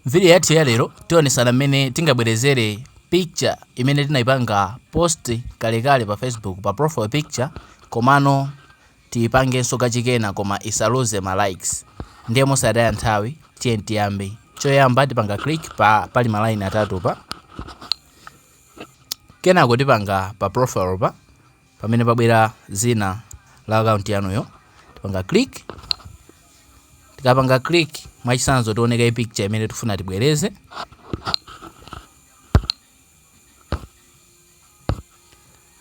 M'vidiyo yathu ya lero, tionetsana mmene tingabwerezere picture imene tinaipanga post kalekale pa Facebook pa profile picture komano tiipangenso kachikena koma isaluze ma likes. Ndiye mosataya nthawi, tiyeni tiyambe. Choyamba tipanga click pa pali ma line atatu pa. Kenako tipanga pa profile pa. Pamene pabwera zina la akaunti yanuyo, tipanga click. Tikapanga click, mwachisanzo tione kaye picture imene tifuna tibwereze.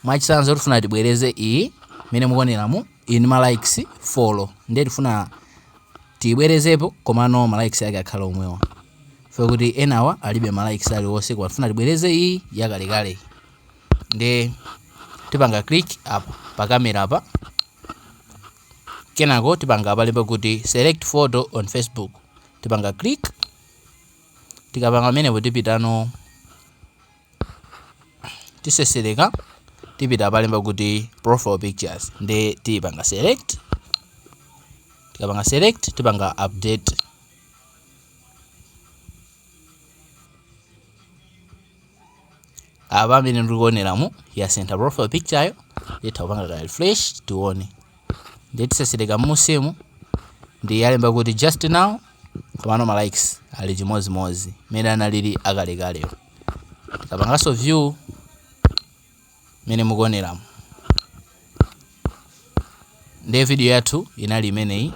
Mwachisanzo tifuna tibwereze iyi imene mukuoneramu ili ndi ma likes four, ndiye tifuna tiyibwerezepo komano ma likes yake akhala omwewa four kuti enawa alibe ma likes aliwonse, koma tifuna tibwereze iyi yakalekale. nde tipanga click apa pa camera apa kenako tipanga palemba kuti select photo on facebook tipanga click tikapanga pamenepo tipitano tisesereka tipita palemba kuti profile pictures nde tipanga select tikapanga select tipanga update apa mmene mukuoneramu yasintha profile picture yo nditha kupanga ka refresh tione ndiye tiseselereka mmunsimu nde yalemba kuti just now komano ma likes ali chimodzimodzi mmene analili akalekalewo tikapanganso view mmene mukuoneramu ndiye video yathu inali imeneyi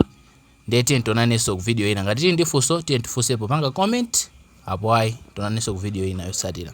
Ndiye tiyeni tionanenso ku video ina. Ngati tili ndi funso, tiyeni tifunse popanga comment. Apo ayi, tionanenso ku video ina yotsatira.